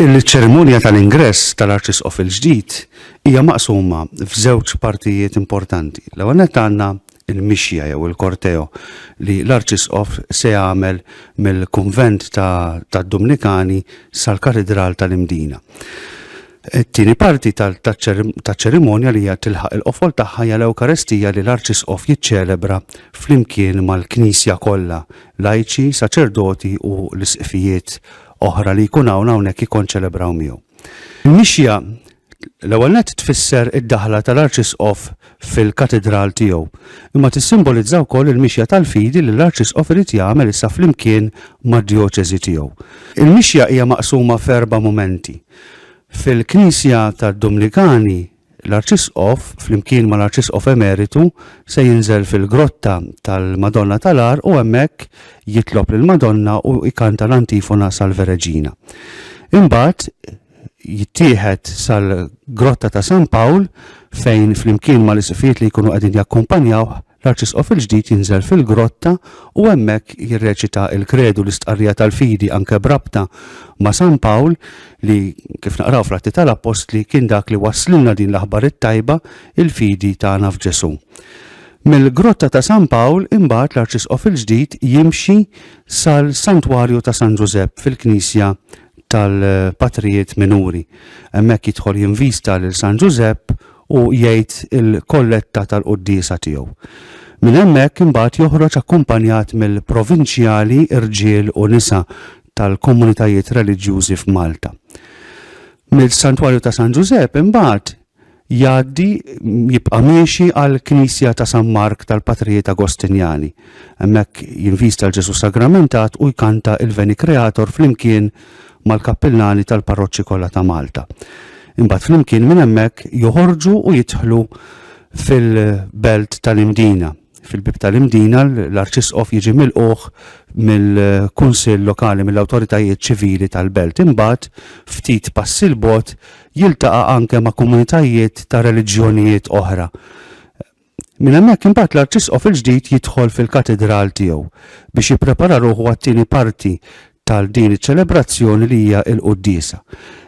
Il-ċerimonja tal-ingress tal-Arċisqof il-ġdid hija maqsuma f'żewġ partijiet importanti. L-ewwel nett għandna l-mixja jew il-korteo li l-Arċisqof se jagħmel mill-kunvent tad-Dumnikani sal-Katidral tal-Imdina. It-tieni parti taċ-ċerimonja li hija tilħaq il-qofol tagħha hija l-Ewkaristija li l-Arċisqof jiċċelebra flimkien mal-Knisja kollha lajċi, saċerdoti u l-isqfijiet oħra li jkun hawn hawnhekk jikkonċelebraw miegħu. Mixja l-ewwel nett tfisser id-daħla tal-Arċisqof fil-katidral tiegħu, imma tissimbolizza wkoll il-mixja tal-fidi li l-Arċisqof irid jagħmel issa flimkien mad-djoċesi tiegħu. Il-mixja hija maqsuma f'erba' mumenti. Fil-Knisja tad-Dumnikani L-Arċisqof, flimkien mal-Arċisqof Emeritu, se jinżel fil-grotta tal-Madonna tal-Għar u hemmhekk jitlob lill-Madonna u jkanta l-antifona Salve Regina. Imbagħad jittieħed sal-grotta ta' San Pawl fejn flimkien mal-isqfijiet li jkunu qegħdin jakkumpanjawh L-Arċisqof il-ġdid jinżel fil-grotta u hemmhekk jirreċita l-Kredu, l-istqarrija tal-fidi anke b'rabta ma' San Pawl li, kif naqraw fl-Atti tal-Appostli, kien dak li wasslilna din l-aħbar it-tajba, il-fidi tagħna f'Ġesù. Mill-grotta ta' San Pawl imbagħad l-Arċisqof il-ġdid jimxi sal-Santwarju ta' San Ġużepp fil-Knisja tal-patrijiet minuri. Hemmhekk jidħol jinvista lil San Ġużepp u jgħid il-kolletta tal-quddiesa tiegħu. Minn hemmhekk imbagħad joħroġ akkumpanjat mill-provinċjali irġiel u nisa tal-komunitajiet reliġjużi f'Malta. Mill-Santwarju ta' San Ġużepp imbagħad jgħaddi, jibqa' miexi għall-knisja ta' San Mark tal-Patrijiet Agostinjani. Hemmhekk jinvista l-Ġesù Sagramentat u jkanta il-Veni Creator flimkien mal-kappillani tal-parroċċi kollha ta' Malta. Imbagħad flimkien minn hemmhekk joħorġu u jidħlu fil-belt tal-Imdina. fil-bib tal-Imdina l-Arċisqof jiġi milquh mill-Kunsill Lokali mill-awtoritajiet ċivili tal-belt. Imbagħad ftit passi l bot jiltaqa' anke ma' komunitajiet ta' reliġjonijiet oħra. Minn hemmhekk imbagħad l-Arċisqof il-ġdid jidħol fil-katedral tiegħu biex jipprepara ruħu għat-tieni parti ta' din iċ-ċelebrazzjoni li hija l-Quddiesa.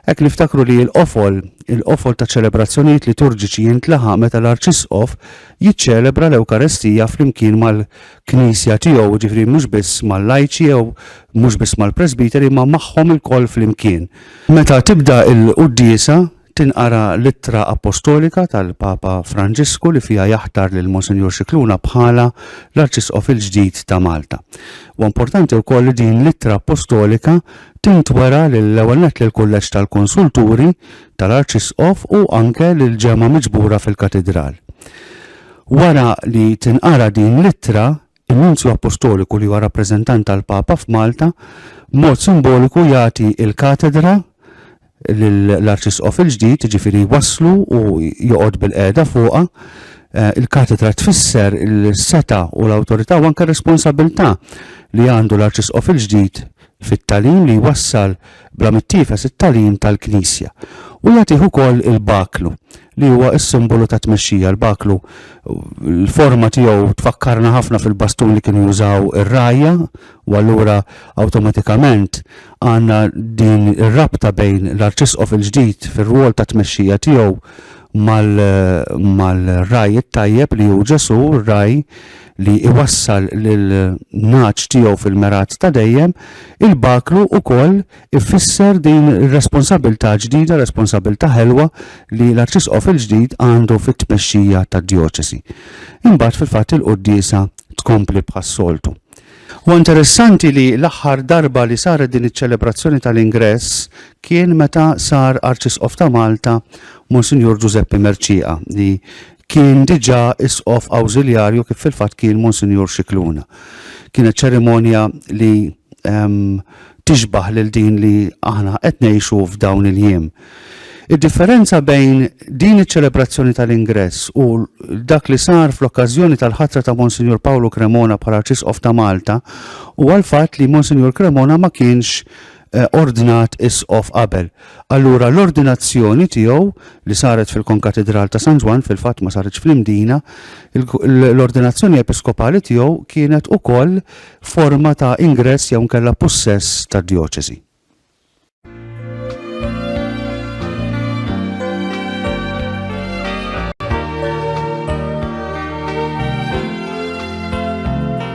Hekk niftakru li l-qofol, il-qofol taċ-ċelebrazzjonijiet liturġiċi jintlaħaq meta l-Arċisqof jiċċelebra l-Ewkarestija flimkien mal-Knisja tiegħu, jiġifieri mhux biss mal-lajċi jew mhux biss mal-presbiteri imma magħhom ilkoll flimkien. Meta tibda l-Quddiesa, tinqara l-ittra appostolika tal-Papa Franġisku li fiha jaħtar lil Monsinjur Scicluna bħala l-Arċisqof il-ġdid ta' Malta. U importanti wkoll li din l-ittra appostolika tintwera lill-ewwel nett lill-Kulleġġ tal-Konsulturi tal-Arċisqof u anke lill-ġemgħa miġbura fil-Katidral. Wara li tinqara din l-ittra, In-Nunzju Appostoliku li huwa rappreżentant tal-Papa f'Malta b'mod simboliku jagħti l-katedra lill-Arċisqof il-ġdid, jiġifieri jwasslu u joqgħod bil-qiegħda fuqha. Eh, il-katedra tfisser il-seta u l-awtorità u anke r-responsabilità li għandu l-Arċisqof il-ġdid fit-tagħlim li jwassal bla mittiefes it-tagħlim tal-Knisja, u jagħtih ukoll il-baklu, li huwa s-simbolu tat-tmexxija. Il-baklu, l-forma tiegħu tfakkarna ħafna fil-bastun li kienu jużaw ir-rgħajja, u allura awtomatikament għandna din ir-rabta bejn l-Arċisqof il-ġdid fir-rwol ta' tmexxija tiegħu mal-ragħaj it-tajjeb li hu Ġesù, r-ragħaj li jwassal lill-ngħaġ tiegħu fil-mergħat ta' dejjem, il-baklu wkoll ifisser din ir-responsabbiltà ġdida, responsabbiltà ħelwa li l-Arċisqof il-ġdid għandu fit-tmexxija tad-djoċesi. Imbagħad fil-fatt il-quddiesa tkompli bħas-soltu. Huwa interessanti li l-aħħar darba li saret din iċ-ċelebrazzjoni tal-ingress kien meta sar Arċisqof ta' Malta Monsinjur Ġużeppi Mercieqa li Kien diġà Isqof Awżiljarju kif fil-fatt kien Monsinjur Scicluna. Kienet ċerimonja li tixbah lil din li aħna qed ngħixu f'dawn il-jiem. Id-differenza bejn din iċ-ċelebrazzjoni tal-ingress u dak li sar fl-okkażjoni tal-ħatra ta' Monsinjur Pawlu Cremona bħala Arċisqof ta' Malta huwa l-fatt li Monsinjur Cremona ma kienx eh, ordnat isqof qabel. Allura l-ordinazzjoni tiegħu li saret fil-Konkatedral ta' San Ġwan fil-fatt ma saritx fl-Imdina, l-ordinazzjoni episkopali tiegħu kienet ukoll forma ta' ingress jew nkella possess ta' djoċesi.